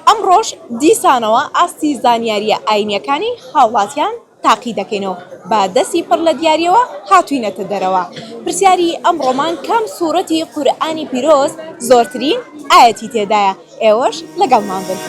ئەمڕۆش دیسانەوە ئاستی زانیارییە ئاینییەکانی هاوڵاتیان تاقی دەکەین و بە دەستی پڕ لە دیارییەوە هاتووینەتە دەرەوە. پرسیاری ئەمڕۆمان کام سوورەتی قورئانی پیرۆز زۆرترین ئایەتی تێدایە؟ ئێوەش لەگەڵمان بن.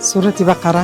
سوورەتی بەقەرە.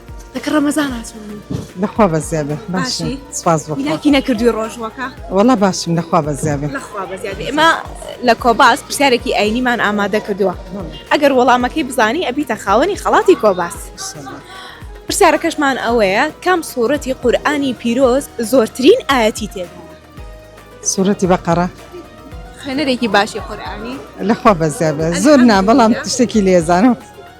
لەکە ڕەمەزان هاتووم لەخوا بە زیادە باشی سپاس بۆ هیلاکی نەکردوی ڕۆژوەکە وەڵا باشم لەخوا بە زیادە لەخوا بە زیادە ئێمە لە کۆباس پرسیارێکی ئاینیمان ئامادە کردووە ئەگەر وەڵامەکەی بزانی ئەبیتە خاوەنی خەڵاتی کۆباس پرسیارەکەشمان ئەوەیە کام سوورەتی قورآانی پیرۆز زۆرترین ئاەتی تێ سوورەتی بەقەرە خوێنەرێکی باشی قورآانی لەخوا بە زیادە زۆر نا بەڵام شتێکی لێزانم.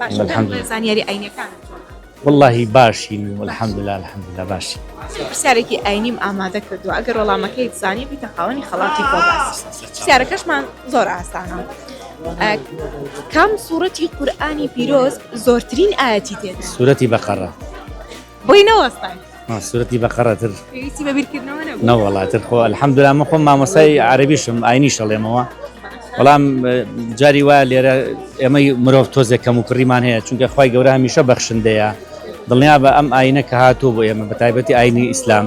باشە کام الحمدللە. بڵێ زانیاری ئاینیەکانت چۆنە؟ وەڵاهی باشین و الحمدللە الحمدللە باشین. چەند پرسیارێکی ئاینیم ئامادە کردووە ئەگەر وەڵامەکەیت زانی بیتە خاوەنی خەڵاتی خۆبەخش پرسیارەکەشمان زۆر ئاسانە ئە، کام سوڕەتی قورئانی پیرۆز زۆرترین ئایەتی تێدایە؟ سورەتی بەقەڕە. بۆی نەوەستان ما سورەتی بەقەڕە تر پێویستی بە بیرکردنەوە نەبوو نەوەڵا تر خۆ الحەمدلله من خۆم مامۆستای عەربیشم ئاینی شەڵێمەوە بەڵام جاری وایە لێرە ئێمەی مرۆڤ تۆزێک کەم و کڕیمان هەیە چونکە خی گەورە هەمیشە بەخشندەیە دڵنیا بە ئەم ئاینە کە هاتوو بۆ ئێمە بە تایبەتی ئاینی ئیسلام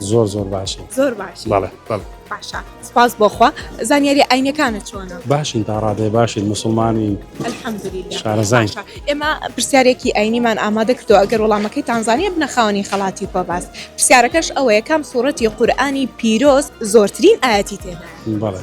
زۆر زۆر باشە زۆر باش بەڵێ بەڵێ باشە سپاس بۆخوا زانیاری ئاینەکانە چۆنە باشین تا ڕادێ باشین مسلمانی الحەمدلله شارەزای باشە ئێمە پرسیارێکی ئاینیمان ئامادە کردو ئەگەر وەڵامەکەی تانزانیە بنە خاوەنی خەڵاتی پۆباس پرسیارەکەش ئەوەیە کام سوورەتی قورآانی پیرۆز زۆرترین ئاەتی تێدا بەڵێ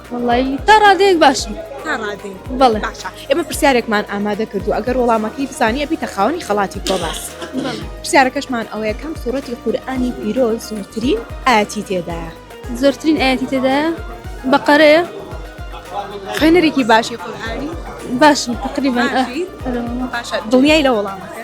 وەڵایی تا ڕادەیەک باشم تا ڕادەی بەڵێ باشە ئێمە پرسیارێکمان ئامادە کردو ئەگەر وەڵامەکەی بزانیە بیتە خاوەنی خەڵاتی کۆماس پرسیارەکەشمان ئەوەیە کەم سوورەتی قورآانی پیرۆ زۆرترین ئاتی تێدایە زۆرترین ئاتی تێدایە بەقەرەیە خوێنەرێکی باشی قورآانی باشم تقریبا باشە دڵنیای لە وەڵامەکە